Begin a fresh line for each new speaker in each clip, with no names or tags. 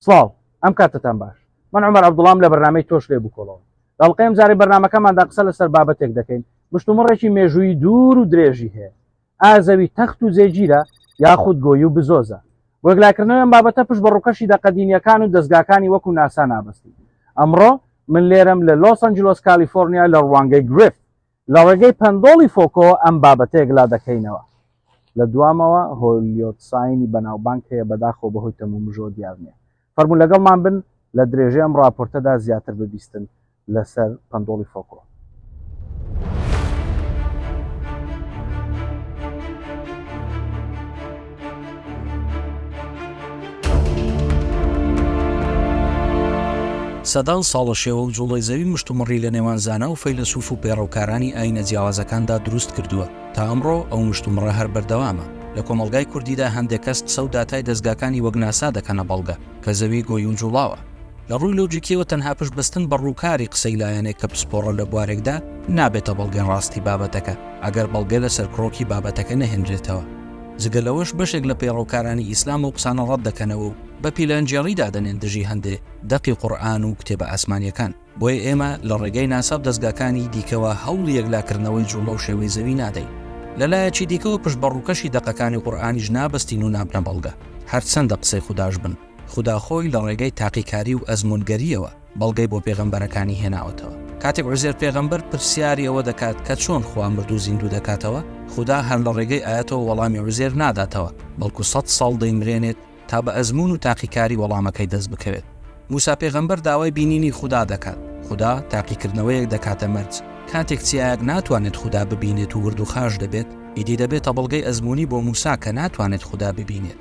سڵاو ئەم کاتەتان باش من عومەر عەبدوڵام لە بەرنامەی تۆش لێ بکۆڵەوە لە ئەڵقەی ئەمجارەی بەرنامەکەماندا قسە لەسەر بابەتێک دەکەین مشتومڕێکی مێژووی دوور و درێژی هەیە ئایا زەوی تەخت و جێگیرە یاخود گۆی و بزۆزە بۆ یەکلاکردنەوەی ئەم بابەتە پشت بە ڕووکەشی دەقە دینیەکان و دەزگاکانی وەکو ناسا نابەستین ئەمڕۆ من لێرەم لە لۆس ئەنجلۆس کالیفۆرنیا لە ڕوانگەی گرفت لە ڕێگەی پەندۆڵی فۆکۆ ئەم بابەتە یەکلا دەکەینەوە. لە دوامەوە هۆلیۆتساینی بەناوبانگ هەیە بەداخەوە بەهۆی تەمومژەوە دیار نییە. فەرموو لەگەڵمان بن لە درێژەی ئەم ڕاپۆرتەدا زیاتر ببیستن لەسەر پەندۆڵی فۆکۆ.
سەدان ساڵە شێوە و جوڵەی زەوی مشتومڕی لە نێوان زانا و فەیلەسوف و پێڕەوکارانی ئایینە جیاوازەکاندا دروست کردووە، تا ئەمڕۆ ئەو مشتومڕە هەر بەردەوامە. لە کۆمەڵگای کوردیدا هەندێک کەس قسە و داتای دەزگاکانی وەک ناسا دەکەنە بەڵگە کە زەوی گۆی و جوڵاوە. لە ڕووی لۆجیکییەوە تەنها پشت بەستن بە ڕووکاری قسەی لایەنێک کە پسپۆڕە لە بوارێکدا، نابێتە بەڵگەی ڕاستی بابەتەکە، ئەگەر بەڵگە لەسەر کڕۆکی بابەتەکە نەهێنرێتەوە. جگە لەوەش بەشێک لە پەیڕەوکارانی ئیسلام ئەو قسانە ڕەت دەکەنەوە و بە پیلانگێڕی دادەنێن دژی هەندێ دەقی قورئان و کتێبە ئاسمانییەکان. بۆیە ئێمە لە ڕێگای ناسا و دەزگاکانی دیکەوە هەوڵی یەکلاکردنەوەی جووڵە و شێوەی زەوی نادەین. لە لایەکی دیکەوە پشت بە ڕووکەشی دەقەکانی قورئانیش نابەستین و نابنە بەڵگە، هەرچەندە قسەی خوداش بن. خودا خۆی لە ڕێگای تاقیکاری و ئەزموونگەرییەوە، بەڵگەی بۆ پێغەمبەرەکانی هێناوەتەوە. کاتێک عوزێر پێغەمبەر پرسیاری ئەوە دەکات کە چۆن خوا مردوو زیندوو دەکاتەوە، خودا هەر لە ڕێگەی ئایەتەوە وەڵامی عوزێر ناداتەوە، بەڵکو سەد ساڵ دەیمرێنێت تا بە ئەزموون و تاقیکاری وەڵامەکەی دەست بکەوێت. موسا پێغەمبەر داوای بینینی خودا دەکات، خودا تاقیکردنەوەیەک دەکاتە مەرج، کاتێک چیایەک ناتوانێت خودا ببینێت و وردوخاش دەبێت، ئیدی دەبێتە بەڵگەی ئەزموونی بۆ موسا کە ناتوانێت خودا ببینێت.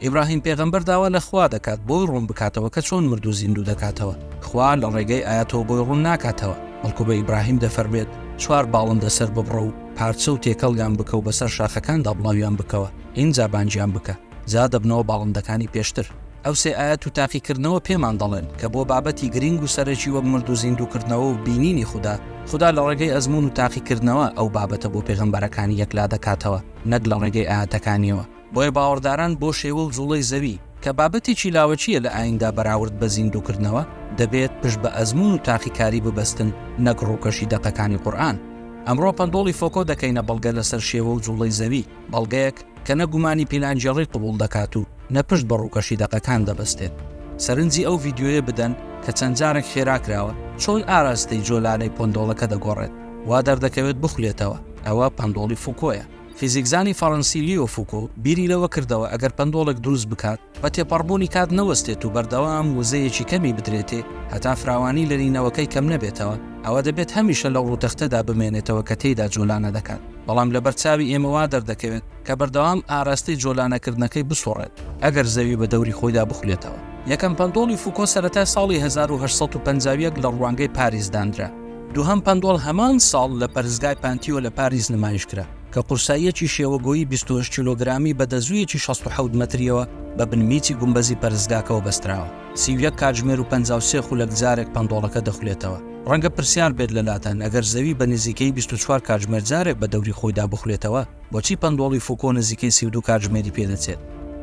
ئیبراهیم پێغەمبەر داوا لە خوا دەکات بۆی ڕوون بکاتەوە کە چۆن مردوو زیندوو دەکاتەوە خوا لە ڕێگەی ئاەتەوە بۆی ڕوون ناکاتەوە بەڵکو بە ئیبراهیم دەفەرمێت چوار باڵندە سەر ببڕە و پارچە و تێکەڵیان بکە و بەسەر شاخەکاندا بڵاویان بکەوە ئینجا بانجیان بکە جا دەبنەوە باڵندەکانی پێشتر ئەو سێ ئاەت و تاقیکردنەوە پێمان دەڵێن کە بۆ بابەتی گرنگ و سەرەکی وەک مرد و زیندووکردنەوە و بینینی خوددا خدا لە ڕێگەی ئەزمون و تاقیکردنەوە ئەو بابەتە بۆ پێغەمبەرەکانی یەکلا دەکاتەوە نەک لە ڕێگەی ئاەتەکانیەوە بۆیە باوەڕداران بۆ شێوە و جوڵەی زەوی، کە بابەتێکی لاوەکییە لە ئاییندا بەراورد بە زیندووکردنەوە، دەبێت پشت بە ئەزموون و تاقیکاری ببەستن نەک ڕووکەشی دەقەکانی قورئان. ئەمڕۆ پەندۆڵی فۆکۆ دەکەینە بەڵگە لەسەر شێوە و جوڵەی زەوی، بەڵگەیەک کە نە گومانی پیلانگێڕی قبوڵ دەکات و نە پشت بە ڕووکەشی دەقەکان دەبەستێت. سەرنجی ئەو ڤیدیۆیە بدەن کە چەند جارێک خێرا کراوە، چۆن ئاراستەی جۆلانەی پەندۆڵەکە دەگۆڕێت، وا دەردەکەوێت بخولێتەوە، ئەوە پەندۆڵی فوکۆیە. فیزیکزانی فەڕەنسی لیۆ فوکۆ بیری لەوە کردەوە ئەگەر پەندۆڵێک دروست بکات بە تێپەڕبوونی کات نەوەستێت و بەردەوام وزەیەکی کەمی بدرێتێ هەتا فراوانی لەرینەوەکەی کەم نەبێتەوە ئەوا دەبێت هەمیشە لەو ڕووتەختەدا بمێنێتەوە کە تێیدا جۆلانە دەکات بەڵام لەبەر چاوی ئێمە وا دەردەکەوێت کە بەردەوام ئاراستەی جۆلانەکردنەکەی بسوڕێت ئەگەر زەوی بە دەوری خۆیدا بخولێتەوە. یەکەم پەندۆڵی فوکۆ سەرەتای ساڵی هەزار و هەشت سەد و پەنجا و یەک لە ڕوانگەی پاریس دانرا، دووهەم پەندۆڵ هەمان ساڵ لە پەرستگای پانتیۆ لە پاریس نمایش کرا، کە قورساییەکی شێوەگۆیی بیست و هەشت کیلۆگرامی بە دەزوویەکی شەست و حەوت مەترییەوە بە بن میچی گومبەزی پەرستگاکەوە بەستراوە. سی و یەک کاتژمێر و پەنجا و سێ خولەک جارێک پەندۆڵەکە دەخولێتەوە. ڕەنگە پرسیار بێت لەلاتان، ئەگەر زەوی بە نزیکەیی بیست و چوار کاتژمێر جارێک بە دەوری خۆیدا بخولێتەوە، بۆچی پەندۆڵی فوکۆ نزیکەی سی و دوو کاتژمێری پێدەچێت؟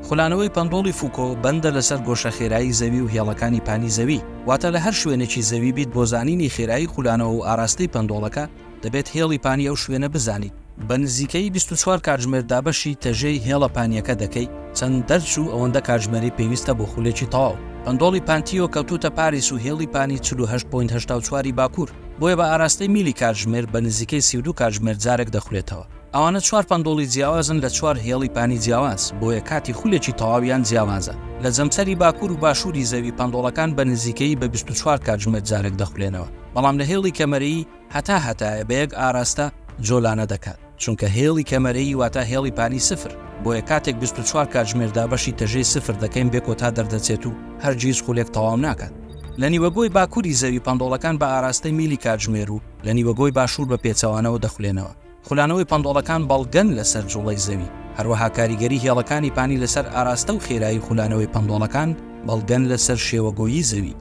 خولانەوەی پەندۆڵی فوکۆ بەندە لەسەر گۆشە خێرایی زەوی و هێڵەکانی پانی زەوی، واتە لە هەر شوێنێکی زەوی بیت بۆ زانینی خێرایی خولانەوە و ئاراستەی پەندۆڵەکە دەبێت هێڵی پانی ئەو شوێنە بزانیت، بە نزیکەی بیست و چوار کاتژمێر دابەشی تەژێی هێڵە پانییەکە دەکەی، چەند دەرچوو ئەوەندە کاتژمێری پێویستە بۆ خولێکی تەواو. پەندۆڵی پانتیۆ کەوتووتە پاریس و هێڵی پانی چل و هەشت پۆینت هەشتا و چوار ی باکوور. بۆیە بە ئاراستەی میلی کاتژمێر بە نزیکەی سی و دوو کاتژمێر جارێک دەخولێتەوە. ئەوانە چوار پەندۆڵی جیاوازن لە چوار هێڵی پانی جیاواز، بۆیە کاتی خولێکی تەواویان جیاوازە. لە جەمسەری باکوور و باشووری زەوی پەندۆڵەکان بە نزیکەیی بە بیست و چوار کاتژمێر جارێک دەخولێنەوە، بەڵام لە هێڵی کەمەرەیی هەتا هەتایە بە یەک ئاراستە جۆلانە دەکات. چونکە هێڵی کەمەرەیی واتا هێڵی پانی سفر، بۆیە کاتێک بیست و چوار کاتژمێر دابەشی تەژێی سفر دەکەین بێ کۆتا دەردەچێت و هەرگیز خولێک تەواو ناکات. لە نیوەگۆی باکوری زەوی پەنتۆڵەکان بە ئاراستەی میلی کاتژمێر و لە نیوەگۆی باشور بە پێچەوانەوە دەخولێنەوە. خولانەوەی پەنتۆڵەکان بەڵگەن لەسەر جوڵەی زەوی، هەروەها کاریگەری هێڵەکانی پانی لەسەر ئاراستە و خێرایی خولانەوەی پەنتۆڵەکان بەڵگەن لەسەر شێوەگۆیی زەوی.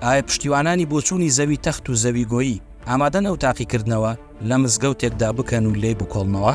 ئایا پشتیوانانی بۆچوونی زەوی تەخت و زەوی گۆیی ئامادەن ئەو تاقیکردنەوە، لە مزگەوتێکدا بکەن و لێی بکۆڵنەوە.